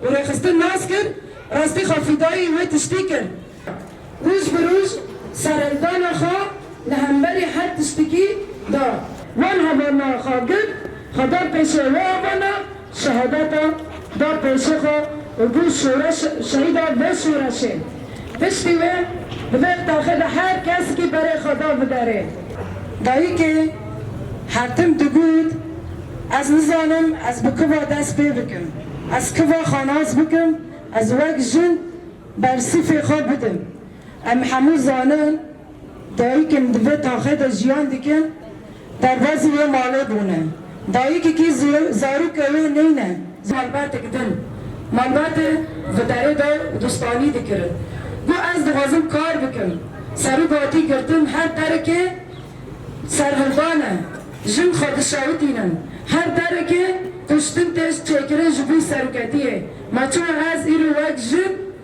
û rêxistin nas kir, rastî xwe fîdayî wê tiştî kir. Roj bi roj sereldana xwe li hemberî her tiştikî da. Wan hevana xwe girt, xwe da pêşê wê hevana. Şehadeta da pêşê xwe û bû şoreş şehîda vê şoreşê. Piştî wê di vê taxê de her kesikî berê xwe da bi derê. Dayikê hertim digot, Ez nizanim ez bi kiva dest pê bikim, ez kiva xwe nas bikim, ez wek jin bersîfê xwe bidim. Em hemû zanin Dayikên di vê taxê de jiyan dikin derbazî wê malê bûne. Dayikekî ji zarokê wê neyne ji malbatek din. Malbatê di derê de distanî dikirin. Got ez dixwazim kar bikim. Serok hatî girtin her derekê serhildan e. Jin xwe dişewitînin. Her derekê kuştin tê çêkirin ji bo seroketiyê. Ma çima ez îro wek jin.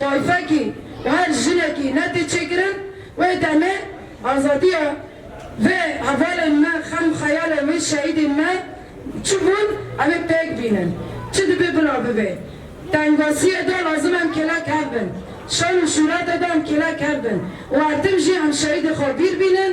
Tayfekî û her jinekî ne tê çêkirin. Wê demê azadiya vê hevalên me, xem û xeyalên wê şehîdên me çi bûn em ê pêk bînin. Çi dibê bila bibê. Tengasiyê de lazim em kêlek hev bin. Şan û şûrete de em kêlek hev bin û her tim jî em şehîdê xwe bîr bînin.